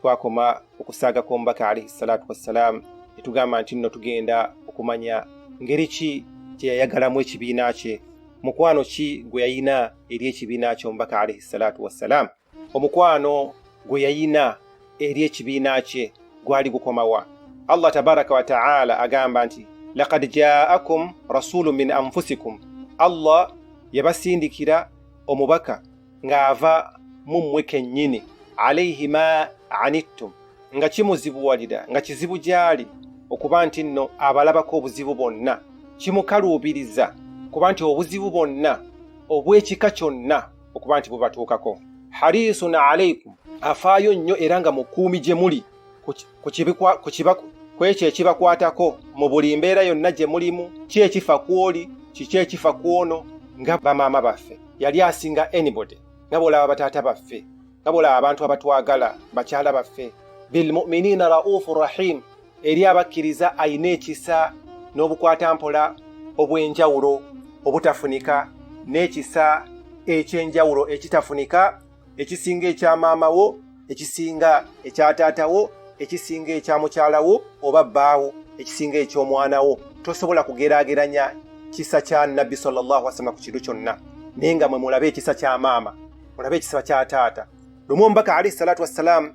twakoma okusaaga kw'omubaka alaihi salatu wassalaamu ne tugamba nti nno tugenda okumanya ngeri ki gye yayagalamu ekibiina kye mukwano ki gwe yayina eri ekibiina ky'omubaka alaihi salatu wassalaamu omukwano gwe yayina eri ekibiina kye gwali gukomawa allah tabaraka wataala agamba nti lakad jaakum rasulu min anfusikum allah yabasindikira omubaka ng'ava mu mmwe kennyini alaihi ma anittum nga kimuzibuwalira nga kizibu gy'ali okuba nti nno abalabako obuzibu bonna kimukaluubiriza kuba nti obuzibu bonna obw'ekika kyonna okuba nti bubatuukako harisun alaikum afaayo nnyo era nga mukuumi gye muli ku ekyo ekibakwatako mu buli mbeera yonna gye mulimu ki ekifa ku oli kiki ekifa ku ono nga bamaama baffe yali asinga anybody nga bwolaba bataata baffe nga bwolaba abantu abatwagala bakyala baffe bilmuminina raufu rahim eri abakkiriza ayina ekisa n'obukwata mpola obw'enjawulo obutafunika n'ekisa eky'enjawulo ekitafunika ekisinga ekya maama wo ekisinga ekya taata wo ekisinga ekya mukyala wo oba bbaawo ekisinga eky'omwana wo tosobola kugeraageranya kisa kya nabbi sallallahu wasallama ku kintu kyonna naye nga mwe mulabe ekisa kya maama mulabe ekisa kya taata lumu omubaka alaihi salatu wassalaamu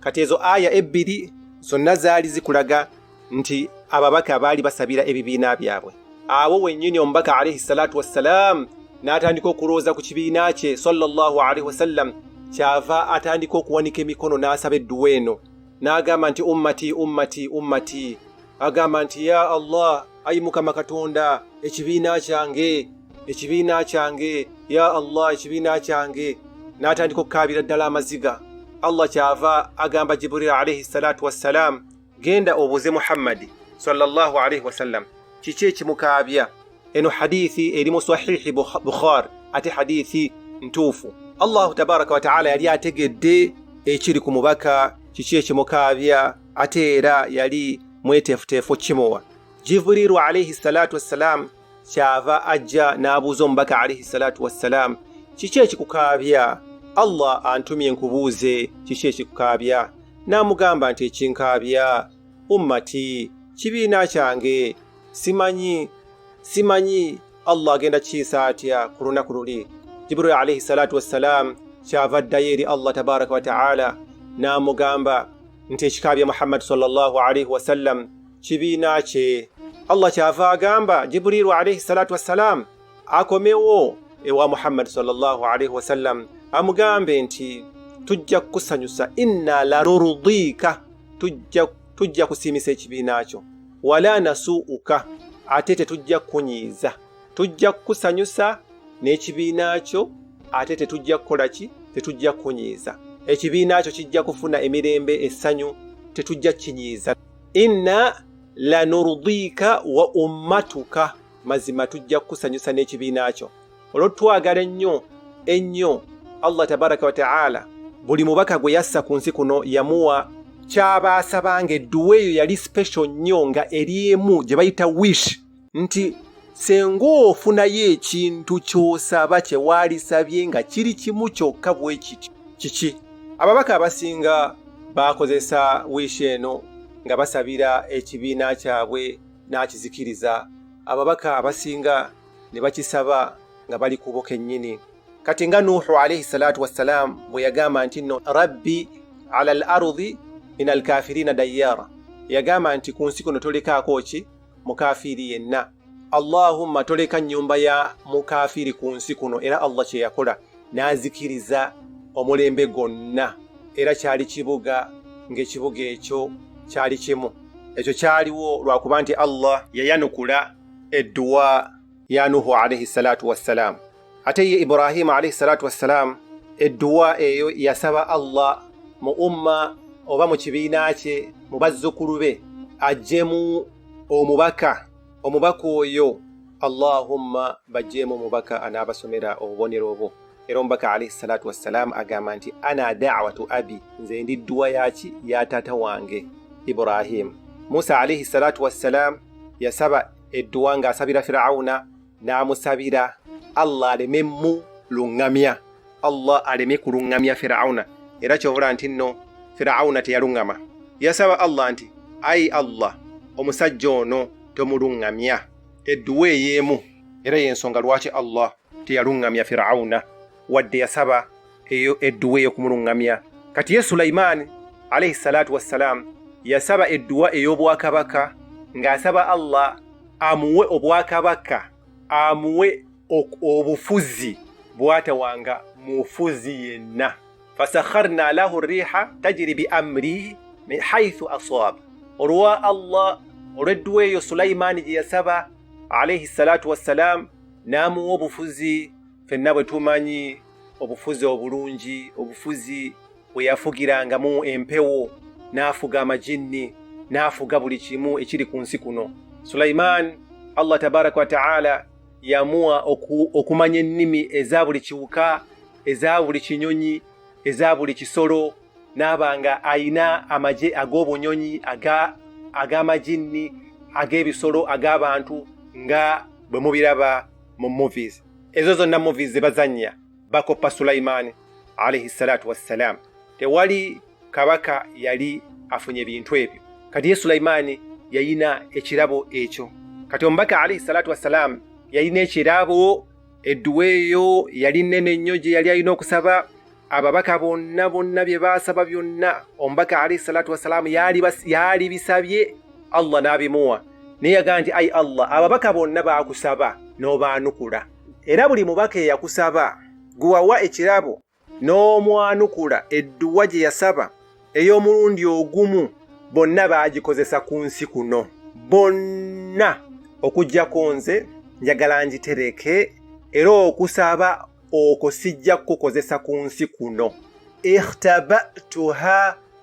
kati ezo aya ebbiri zonna zaali zikulaga nti ababaka baali basabira ebibiina byabwe awo wennyini omubaka alaihi salatu wassalaamu n'atandika okulowooza ku kibiina kye sallallahu alaihi wasallam kyava atandika okuwanika emikono n'asaba edduwa eno n'agamba nti ummati ummati ummati agamba nti ya allah ayi mukama katonda ekibiina kyange ekibiina kyange ya allah ekibiina kyange n'atandika okukaabira ddala amaziga allah kyava agamba jiburil alaihi salatu wassalaamu genda obuuze muhammadi sallallahu alaihi wasallam kiki ekimukaabya eno hadithi eri mu sahihi bukhar ate hadithi ntuufu allahu tabaraka wataala yali ategedde ekiri ku mubaka kiki ekimukaabya ate era yali mweteefuteefu okukimuwa jibriiru alaihi salaatu wassalaamu kyava ajja n'abuuza omubaka alaihi salaatu wassalaamu kiki ekikukaabya allah antumye nkubuuze kiki ekikukaabya n'amugamba nti ekinkaabya ummati kibiina kyange simanyi simanyi allah agenda kiyisa atya ku lunaku luli jibril alaihi salatu wassalaamu kyava addayo eri allah tabaraka wataala n'amugamba nti ekika bya muhammadi salllahu alaihi wasallam kibiina kye allah kyava agamba jibrilu alaihi salatu wassalaamu akomewo ewa muhammadi salllahu alaihi wasallam amugambe nti tujja kukusanyusa inna larurudika tujja tujja kusiimisa ekibiina kyo wala nasuuka ate tetujja kukunyiiza tujja kukusanyusa n'ekibiina kyo ate tetujja kukola ki tetujja kukunyiiza ekibiina kyo kijja kufuna emirembe essanyu tetujja kukinyiiza inna lanurdiika wa ummatuka mazima tujja kukusanyusa n'ekibiina kyo olwo twagala ennyo ennyo allah tabaraka wataala buli mubaka gwe yassa ku nsi kuno yamuwa kyaba asabanga edduwa eyo yali special nnyo nga eri emu gye bayita wish nti senga ofunayo ekintu ky'osaba kye waalisabye nga kiri kimu kyokka bwe kiti kiki ababaka abasinga baakozesa wish eno nga basabira ekibiina kyabwe n'akizikiriza ababaka abasinga ne bakisaba nga bali kubo kennyini kati nga nuuhu alaihi salaatu wassalaamu bwe yagamba nti nno rabbi ala al arudi min alkafirina dayyara yagamba nti ku nsi kuno tolekaako ki mukafiiri yenna allahumma toleka nnyumba ya mukafiiri ku nsi kuno era allah kye yakola n'azikiriza omulembe gwonna era kyali kibuga ng'ekibuga ekyo kyali kimu ekyo kyaliwo lwakuba nti allah yayanukula edduwa ya nuhu alaihi salatu wassalaamu ate ye ibrahimu alaihi salatu wassalaamu edduwa eyo yasaba allah mu umma oba mu kibiina kye mu bazzukulu be ajjemu omubaka omubaka oyo allahumma bajjeemu omubaka anaabasomera obubonero obwo era omubaka alaihi salatu wassalaamu agamba nti ana dawatu abi nze ndi dduwa yaki ya taata wange ibrahimu musa alaihi salatu wassalaamu yasaba edduwa ng'asabira firawuna n'amusabira allah alememu luŋŋamya allah aleme kuluŋŋamya firawuna era kyobula nti nno firawuna teyaluŋŋama yasaba allah nti ayi allah omusajja ono tomuluŋŋamya edduwa ey'emu era y'ensonga lwaki allah teyaluŋŋamya firawuna wadde yasaba eyo edduwa ey'okumuluŋŋamya kati ye sulayimaani alaihi salaatu wassalaamu yasaba edduwa ey'obwakabaka ng'asaba allah amuwe obwakabaka amuwe obufuzi bwatawanga mufuzi yenna fasakharna lahu riha tajiri bi amrihi min haithu aswab olwa allah olwedduwa eyo sulayimaani gye yasaba alaihi salatu wassalaamu n'amuwa obufuzi fenna bwe tumanyi obufuzi obulungi obufuzi bwe yafugirangamu empewo n'afuga amajinni n'afuga buli kimu ekiri ku nsi kuno sulayimaani allah tabaraka wataala yamuwa okumanya ennimi eza buli kiwuka eza buli kinyonyi eza buli kisolo n'aba nga ayina amagye ag'obunyonyi ag'amaginni ag'ebisolo ag'abantu nga bwe mubiraba mu movies ezo zonna movies ze bazannya bakoppa sulayimaani alaihi salatu wassalaamu tewali kabaka yali afunye bintu ebyo kati ye sulayimaani yayina ekirabo ekyo kati omubaka alaihi salatu wassalaamu yalina ekirabo edduwa eyo yali nene nnyo gye yali alina okusaba ababaka bonna bonna bye baasaba byonna omubaka alaihi salatu wassalaamu yaali bisabye allah n'abimuwa naye yagaa nti ai allah ababaka bonna baakusaba n'obaanukula era buli mubaka eyakusaba gwewawa ekirabo n'omwanukula edduwa gye yasaba ey'omulundi ogumu bonna baagikozesa ku nsi kuno bonna okugyako nze njagala ngitereke era okusaba okwo sijja kukukozesa ku nsi kuno ikhtabatuha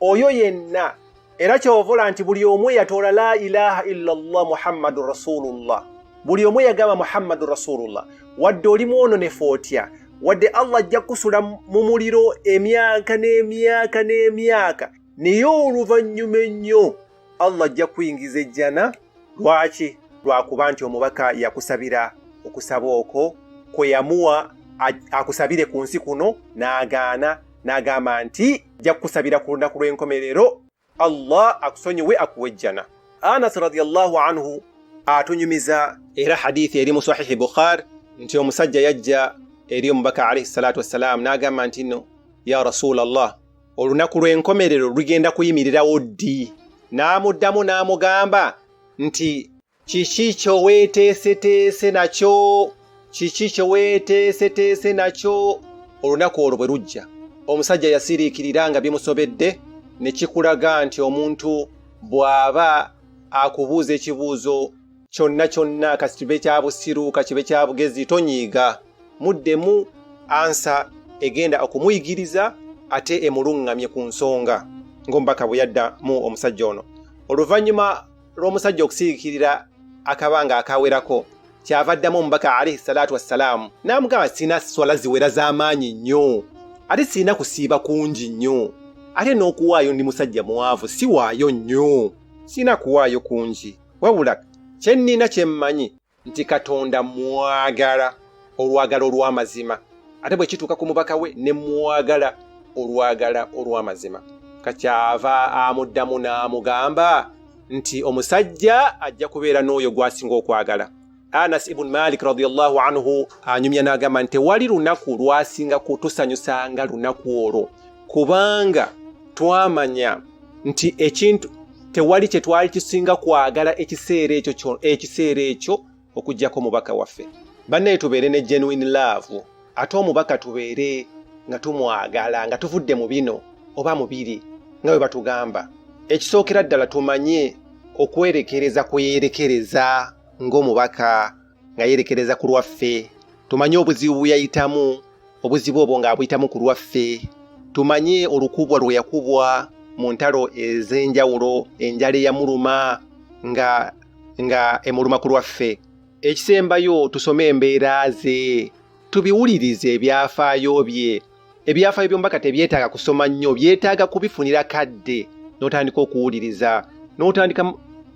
oyo yenna era kyovola nti buli omu eyatoola la ilaha illa llah muhammadu rasulullah buli omu eyagamba muhammadu rasulullah wadde oli mwononefu otya wadde allah ajja kukusula mu muliro emyaka n'emyaka n'emyaka naye oluvannyuma ennyo allah ajja kuyingiza ejjana lwaki lwakuba nti omubaka yakusabira okusaba okwo kwe yamuwa a- akusabire ku nsi kuno n'agaana n'agamba nti ajja kukusabira ku lunaku lw'enkomerero allah akusonyiwe akuwa ejjana anas radiallahu anhu atunyumiza era hadithi eri mu sahihi bukhar nti omusajja yajja eri omubaka alaihi salatu wassalaamu n'agamba nti no ya rasulallah olunaku lw'enkomerero lugenda kuyimirirawo ddi n'amuddamu n'amugamba nti kiki kye weeteeseteese nakyo kiki kye weeteeseteese nakyo olunaku olwo bwe lujja omusajja yasiriikirira nga bimusobedde ne kikulaga nti omuntu bw'aba akubuuza ekibuuzo kyonna kyonna kasi kibe kya busiru ka kibe kya bugezi tonyiiga muddemu ansa egenda okumuyigiriza ate emuluŋŋamye ku nsonga ng'omubaka bwe yadda mu omusajja ono oluvannyuma lw'omusajja okusiikirira akabanga akawerako kyava addamu omubaka alaihi salaatu wassalaamu n'amugamba sirina swala ziwera z'amaanyi nnyo ate sirina kusiiba kungi nnyo ate n'okuwaayo ndi musajja mwavu siwaayo nnyo sirina kuwaayo kungi wabula kye nnina kye mmanyi nti katonda mwagala olwagala olw'amazima ate bwe kituuka ku mubaka we ne mwagala olwagala olw'amazima kakyava amuddamu n'amugamba nti omusajja ajja kubeera n'oyo gw'asinga okwagala anas ibun malik radiallahu anhu anyumya n'agamba nti tewali lunaku lwasinga kutusanyusanga lunaku olwo kubanga twamanya nti ekintu tewali kye twali kisinga kwagala ekiseera ekyo ekiseera ekyo okugyako omubaka waffe bannaye tubeere ne genuine love ate omubaka tubeere nga tumwagala nga tuvudde mu bino oba mu biri nga bwe batugamba ekisookera ddala tumanye okwerekereza kweyerekereza ng'omubaka nga yerekereza ku lwaffe tumanye obuzibu bwe yayitamu obuzibu obwo ng'abuyitamu ku lwaffe tumanye olukubwa lwe yakubwa mu ntalo ez'enjawulo enjala eyamuluma nga nga emuluma ku lwaffe ekisembayo tusome embeera ze tubiwulirize ebyafaayo bye ebyafaayo by'omubaka tebyetaaga kusoma nnyo byetaaga kubifunira kadde n'otandika okuwuliriza n'otandika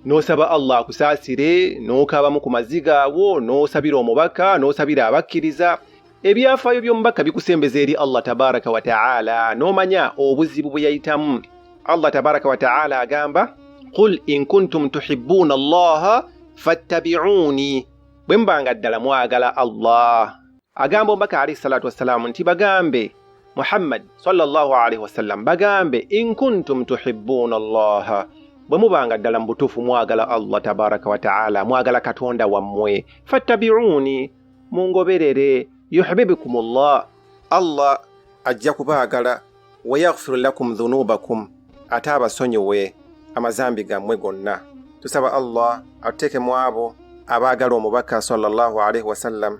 n'osaba allah akusaasire n'okaabamu ku maziga awo n'osabira omubaka n'osabira abakkiriza ebyafaayo by'omubaka bikusembeza eri allah tabaraka wa taala n'omanya obuzibu bwe yayitamu allah tabaraka wa taala agamba qul in kuntum tuhibbuuna allaha fattabiuuni bwe mubanga ddala mwagala allah agamba omubaka alaihi salatu wassalaamu nti bagambe muhammad sallallahu alaihi wasallam bagambe in kuntum tuhibbuuna allaha bwe mubanga ddala mu butuufu mwagala allah tabaraka wataala mwagala katonda wammwe fattabiuuni mungoberere yuhbibikum llah allah ajja kubaagala wayaghfiru lakum dhunubakum ate abasonyiwe amazambi gammwe gonna tusaba allah atuteeke mu abo abaagala omubaka sallallahu alaihi wasallam